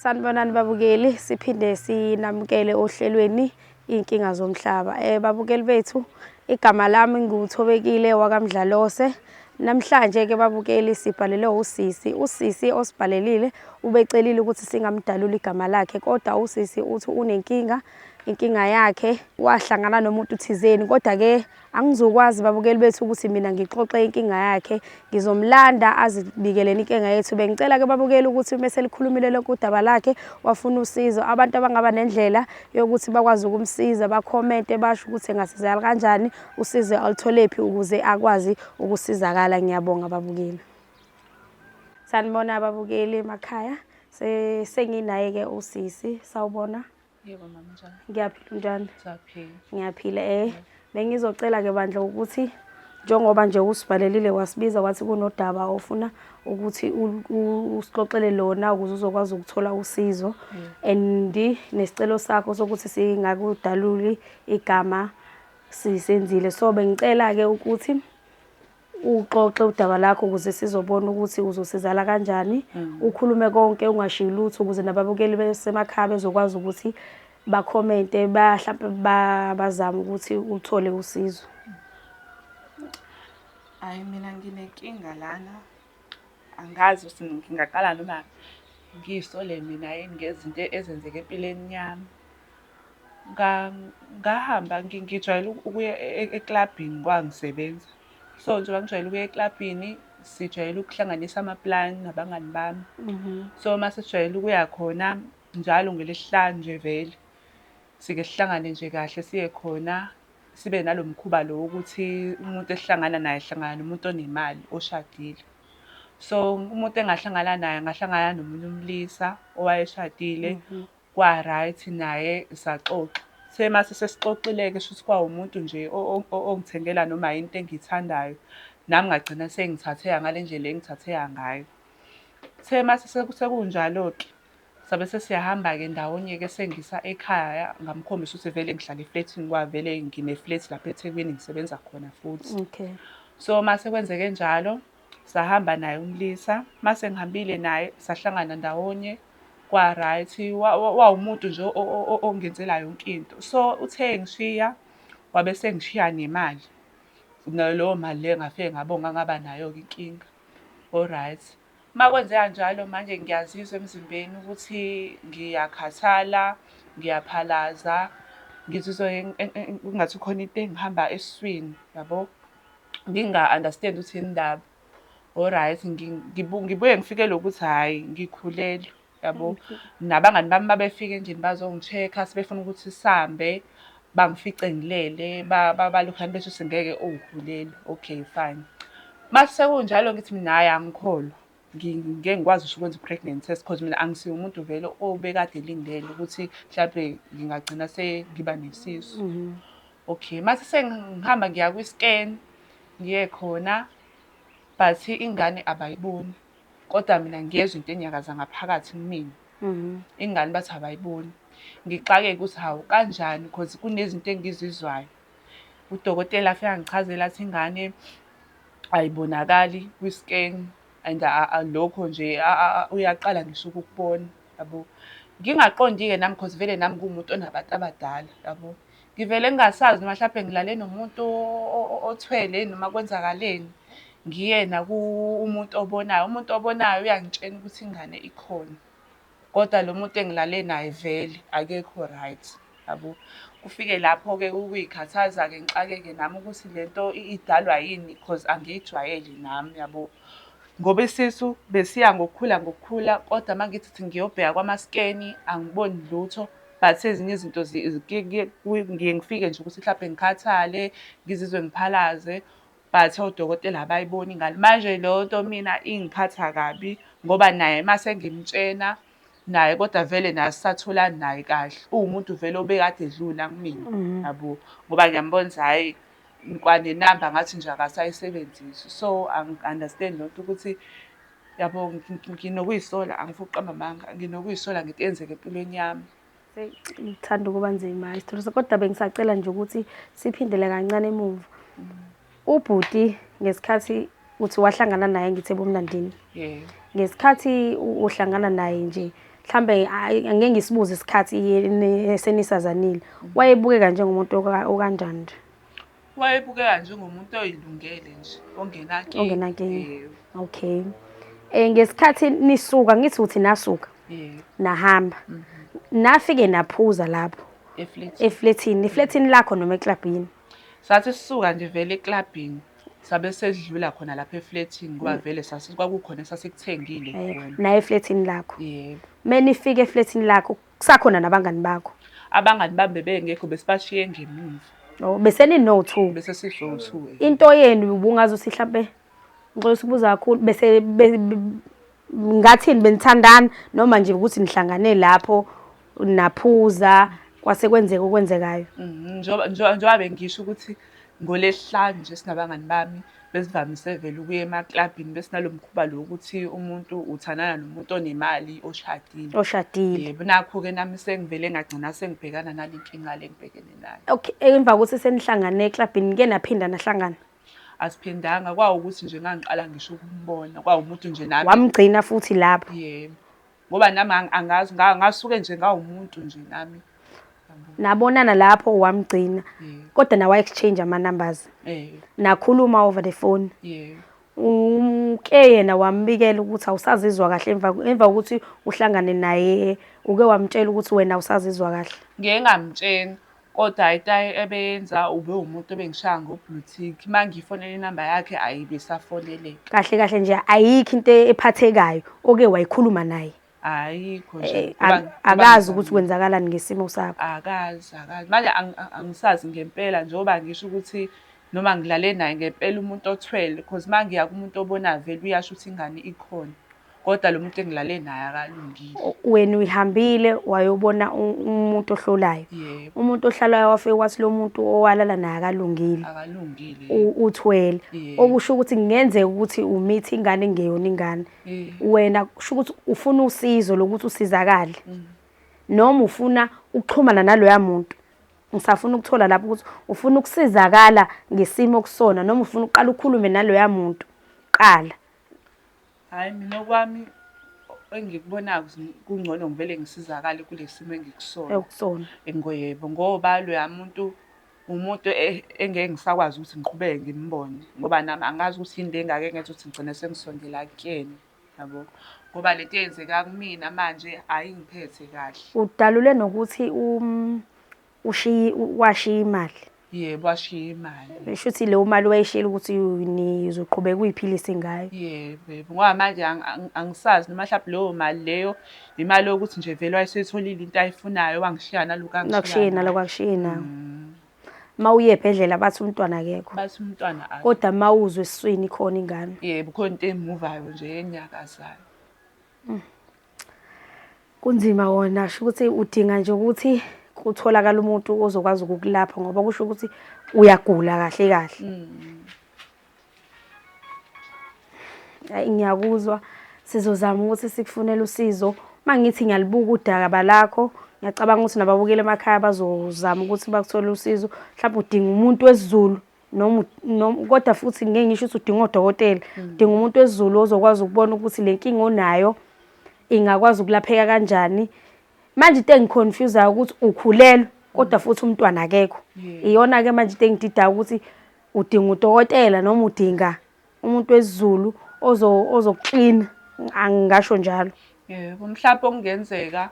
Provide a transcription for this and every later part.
Sanibonani babukeli, siphinde sinamukele ohlelweni iy'nkinga zomhlaba. Um babukeli bethu, igama lami nguThobekile wakamdlalose. Namhlanje-ke babukeli sibhalelwe usisi. Usisi osibhalelile ubecelile ukuthi singamdalula igama lakhe kodwa usisi uthi unenkinga, inkinga yakhe wahlangana nomuntu thizeni kodwa-ke Angizokwazi babukeli bethu ukuthi mina ngixoxe inkinga yakhe. Ngizomlanda azibikeleni inkinga yethu. Bengicela ke babukeli ukuthi uma selikhulumile lonke udaba lakhe wafuna usizo. Abantu abangaba nendlela yokuthi bakwazi ukumsiza bakhomente basho ukuthi engasizakala kanjani, usizo alutholephi ukuze akwazi ukusizakala. Ngiyabonga babukeli. Sanibona babukeli emakhaya. Senginaye ke usisi. Sawubona. Yebo mama njani? Ngiyaphila unjani? Ngiyaphila. Ngiyaphila eh. Bengizocela ke bandla ukuthi njengoba nje usibhalelile wasibiza wathi kunodaba ofuna ukuthi usixoxele lona ukuze uzokwazi ukuthola usizo mm. and nesicelo sakho sokuthi singakudaluli igama sisenzile so bengicela ke ukuthi uxoxe udaba lakho ukuze sizobona ukuthi uzosizala kanjani mm. ukhulume konke ungashiyi lutho ukuze nababukeli besemakhaya bezokwazi ukuthi bakhomente bahlampe bazame ukuthi uthole usizo hayi mina nginenkinga lana angazi ukuthi ngingaqala noma ngisole mina yini ngezinto ezenzeke empilweni yami Ngahamba ngijwayele ukuya eklabhini ngoba ngisebenza. So, njengoba ngijwayele ukuya eklabhini, sijwayele ukuhlanganisa amapulani nabangani bami. So, uma sesijwayele ukuya khona njalo ngelesihlanu nje vele, sike sihlangane nje kahle siye khona, sibe nalo mkhuba lo wokuthi umuntu esihlangana naye sihlangana nomuntu onemali, oshadile. So, umuntu engahlangana naye angahlangana nomunye umlisa owayeshadile, Kwa right naye saxoxa. Kuthe mase sesixoxile-ke shuthi kwawumuntu nje ongithengela noma yini into engiyithandayo. Nami ngagcina sengithatheka ngale ndlela engithatheka ngayo. Kuthe mase sekunjalo-ke sabe sesiyahamba-ke ndawonye-ke esengisa ekhaya ngamkhombisa ukuthi vele ngihlala eflethini ngoba vele ngine-flat lapha eThekwini ngisebenza khona futhi. Okay. So mase kwenzeke njalo. Sahamba naye umlisa, uma sengihambile naye sahlangana ndawonye kwa-right, wawumuntu nje ongenzela yonke into. So uthe engishiya wabe esengishiya nemali, naleyo mali leyo ngafike ngabonga ngaba nayo-ke inkinga. O-right, uma kwenzeka njalo manje ngiyazizwa emzimbeni ukuthi ngiyakhathala, ngiyaphalaza, ngizizwa kungathi khona into engihamba esiswini, yabo. nginga-understand ukuthi yini indaba. O-right, ngibuye ngifikelwe ukuthi hhayi ngikhulelwe, yabo. Nabangani bami uma befika endlini bazongi-check-a sebefuna ukuthi sihambe, bangifice ngilele, balokhane bethi ukuthi ngeke ukhulelwe, okay fine. Uma sekunjalo ngithi mina hhayi angikholwa. ngike ngikwazi ngisho ukwenza i-pregnancy test because mina angisiye umuntu vele obekade elindele ukuthi mhlawumbe ngingagcina sengiba nesisu mhm. okay mase sengihamba ngiya kwi-scan ngiye khona but ingane abayiboni kodwa mina ngiyezwa into enyakaza ngaphakathi kumina mhm. ingane bathi abayiboni ngixakeke ukuthi hawu kanjani because kunezinto engizizwayo Udokotela afike angichazele athi ingane ayibonakali kwi-scan and lokho nje uyaqala ngisho ukukubona yabo. Ngingaqondi-ke nami cause vele nami ngiwumuntu onabantu abadala yabo. Ngivele ngingasazi noma hlampe ngilale nomuntu othwele noma kwenzakaleni. Ngiyena umuntu obonayo, umuntu obonayo uyangitshena ukuthi ingane ikhona. Kodwa lo muntu engilale naye vele akekho right yabo. Kufike lapho-ke ukuyikhathaza-ke ngixakeke nami ukuthi le nto idalwa yini cause angiyijwayele nami yabo. Ngoba isisu besiya ngokukhula ngokukhula kodwa uma ngithi ukuthi ngiyobheka kwamaskeni angiboni lutho. But ezinye izinto ngiye ngifike nje ukuthi mhlampe ngikhathale, ngizizwe ngiphalaze. But odokotela abayiboni ingane. Manje leyo nto mina ingiphatha kabi ngoba naye uma sengimtshena naye kodwa vele naye asisatholani naye kahle. Uwumuntu vele obekade edlula kumina mhm. yabo ngoba ngiyambona ukuthi hhayi kwanenamba ngathi nje akasayisebenzisi. So angi-understand loo nto ukuthi yabo nginokuyisola angifuni ukuqamba amanga nginokuyisola ngento eyenzeka empilweni yami. ngithanda ukuba nzima isithole so kodwa bengisacela nje ukuthi siphindele kancane emuva ubhuti ngesikhathi uthi wahlangana naye ngithe bomlandini ngesikhathi uhlangana naye nje mhlambe angeke ngisibuze isikhathi senisazanile wayebukeka njengomuntu okanjani nje Wayebukeka njengomuntu oyilungele nje ongenankinga. Ongenankinga. Yebo. Okay. Eh ngesikhathi nisuka ngithi uthi nasuka Yebo. nahamba. Nafike naphuza lapho Eflethi. efletini, efletini lakho noma eklabhini. Sathi sisuka nje vele eklabhini sabe sedlula khona lapha eflethini ngoba vele sasi kwakukhona esasikuthengile Eh, khona. naye efletini lakho. Yebo. Menifika efletini lakho Kusakhona nabangani bakho? Abangani bami bebengekho besibashiye ngemuva. Oh, besenino-two. Bese sizowu-two. eh. Into yenu ubungazi ukuthi hlampe ngixola ukubuza kakhulu bese be- be- ngathini benithandana noma nje ukuthi nihlangane lapho naphuza kwase kwenzeka okwenzekayo. Mhm, njengoba- njengoba njengoba bengisho ukuthi NgoLwesihlanu nje sinabangani bami besivamise vele ukuya emaklabhini bese nalo mkhuba lo ukuthi umuntu uthandana nomuntu onemali oshadile. Oshadile. Yebo nakho-ke nami sengivele ngagcina sengibhekana nale nkinga le ngibhekene nayo. Okay, emva kokuthi senihlangane eklabhini nike naphinda nahlangana? Asiphindanga kwawukuthi nje ngangiqala ngisho ukumbona kwawumuntu nje nami. Wamgcina futhi lapho? Yebo. ngoba nami ang- angazi nga- ngasuke nje ngawumuntu nje nami nabonana lapho wamgcina Yeah. kodwa nawa exchange ama numbers eh nakhuluma over the phone yeah uke yena wambikela ukuthi awusazizwa kahle emva emva kokuthi uhlangane naye uke wamtshela ukuthi wena awusazizwa kahle ngeke ngamtshena Kodwa itayi ebeyenza ubewumuntu obengishaya ngo blue tick mangiyifonela inamba yakhe ayibe isafoneleka. Kahle kahle nje ayikho into ephathekayo oke wayikhuluma naye. Ayikho nje. Eh, Ngoba- ak- ngoba akazi ukuthi ngizamile. kwenzakalani ngesimo sakho akazi akazi manje ang- ang- angisazi ngempela njengoba ngisho ukuthi noma ngilale naye ngempela umuntu othwele because uma ngiya kumuntu obona vele uyasho ukuthi ingane ikhona Kodwa lo muntu engilale naye akalungile. Wena uyihambile wayobona umuntu ohlolayo. Umuntu ohlalayo wafike wathi lo muntu owalala naye akalungile. Akalungile. Uthwele. Okusho ukuthi kungenzeka ukuthi umithi ingane ngeyona ingane. Wena kusho ukuthi ufuna usizo lokuthi usizakale. Mm. Noma ufuna ukuxhumana naloya muntu. Ngisafuna ukuthola lapho ukuthi ufuna ukusizakala ngesimo kusona noma ufuna uqala ukhulume naloya muntu. Qala. Hhayi mina okwami engikubonayo kungcono ngivele ngisizakale kule simo engikusona ekusona engoyebo ngoba loya muntu umuntu e, engeke ngisakwazi ukuthi ngiqhubeke ngimbone ngoba nami angazi ukuthi yini le ngake ngenza ukuthi ngigcine sengisondela kuyena yabo ngoba lento eyenzeka kumina manje ayingiphethe kahle udalule nokuthi um Ushiye washiya imali. Yebo washiya imali. Shuthi leyo mali wayeshela ukuthi nizoqhubeka uyiphilisa ingayo. Yebo yebo ngoba manje angisazi noma mhlawumbe leyo mali leyo imali yokuthi nje vele wayesuyitholile into ayifunayo wangishiya naloku angishiya. Nakushiye naloku akushiye nawo. Mm. Mawuye ebhedlela bathi umntwana akekho. Bathi umntwana akekho. Kodwa mawuzwe esiswini khona ingane. Yebo khona into emuvayo nje enyakazayo. Mm. Kunzima kona kusho ukuthi udinga nje ukuthi kutholakale umuntu ozokwazi ukukulapha ngoba kusho ukuthi uyagula kahle kahle. Mm. Ayi ngiyakuzwa sizozama ukuthi sikufunele usizo. Mangithi ngiyalibuka udaka balakho ngiyacabanga ukuthi nababukeli emakhaya bazozama ukuthi bakuthole usizo. Mhlawumbe udinga umuntu wesiZulu noma noma kodwa futhi ngeke ngisho ukuthi udinga odokotela udinga umuntu wesiZulu ozokwazi ukubona ukuthi le nkinga onayo ingakwazi ukulapheka kanjani manje into engiconfusayo ukuthi ukhulelwe kodwa futhi umntwana akekho iyona-ke manje into engididayo ukuthi udinga udokotela noma udinga Umuntu wesiZulu ozoklina angingasho njalo. Yebo, mhlampe okungenzeka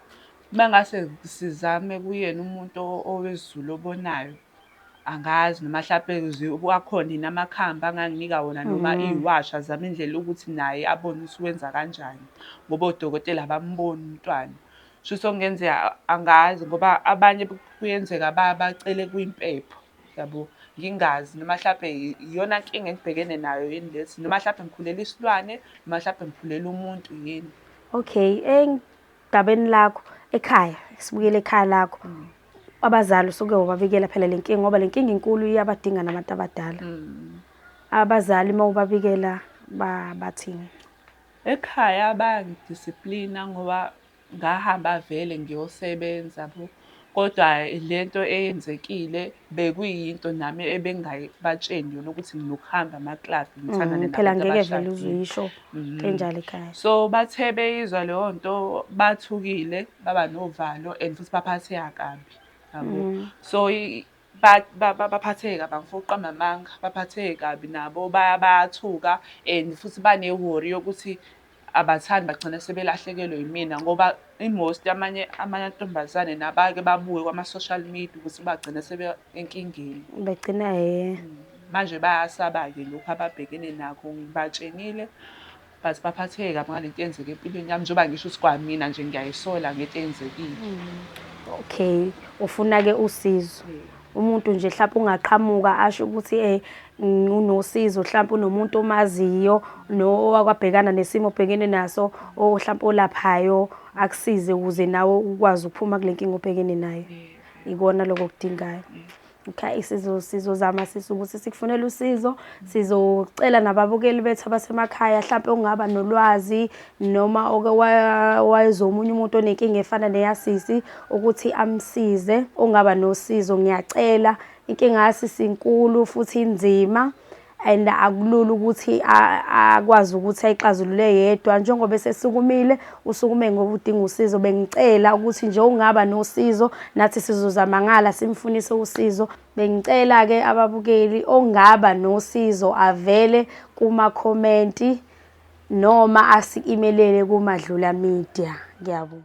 uma ngase sizame kuyena umuntu owesiZulu obonayo, angazi noma hlampe akhona yini amakhambi anganginika wona noma iwashi azame indlela yokuthi naye abone ukuthi wenza kanjani ngoba odokotela abamboni umntwana. Shuthi okungenzeka angazi ngoba abanye kuyenzeka bacele kwimpepho. Yabo ngingazi noma hlampe iyona nkinga engibhekene nayo yini lesi noma hlampe ngikhulele isilwane noma hlampe ngikhulele umuntu yini. Okay, engabeni lakho ekhaya sibuyele ekhaya lakho. Mm. Abazali usuke wababikela phela le nkinga ngoba le nkinga inkulu iyabadinga nabantu abadala. Mm. Abazali uma ubabikela bathini? Ekhaya bayangidisiplina ngoba Ngahamba vele ngiyosebenza bo, kodwa le nto eyenzekile bekuyinto nami ebengayibatsheni yona ukuthi nginokuhamba amaklabi ngithandane mm, phela ngeke vele uzuyisho mm. enjalo ekhaya so bathe beyizwa leyo nto bathukile baba novalo and futhi baphatheka kabi yabo mm. so Baphatheke kabi angifuni ukuqamba amanga, baphatheke kabi nabo bayathuka and futhi banewori yokuthi abathandi bagcina sebelahlekelwe yimina ngoba i-most yamanye amantombazane nabake babuke kwama-social media ukuthi bagcina enkingeni. Begcina he. Manje bayasaba-ke lokhu ababhekene nakho, ngibatshengile but baphatheke kabi ngalento eyenzeke empilweni yami njengoba ngisho ukuthi kwamina nje ngiyayisola ngento eyenzekile okay ufuna-ke usizo umuntu nje mhlawumpe ungaqhamuka asho ukuthi um unosizo mhlawumpe unomuntu omaziyo nowakwabhekana nesimo obhekene naso mhlawumpe olaphayo akusize ukuze nawe ukwazi ukuphuma kule nkinga obhekene nayo ikona lokho okudingayo Okay, sizo sizozama sisi ukuthi sikufunele usizo sizocela nababukeli bethu abasemakhaya mhlawumbe ungaba nolwazi noma oke wayezomunye umuntu onenkinga efana neyasisi ukuthi amsize ungaba nosizo ngiyacela inkinga yasisi inkulu futhi inzima and akulula ukuthi akwazi ukuthi ayixazulule yedwa njengoba esesukumile usukume ngoba udinga usizo bengicela ukuthi nje ungaba nosizo nathi sizozama ngala simfunise usizo bengicela ke ababukeli ongaba nosizo avele kuma comment noma asi-imelele kumadlula media ngiyabonga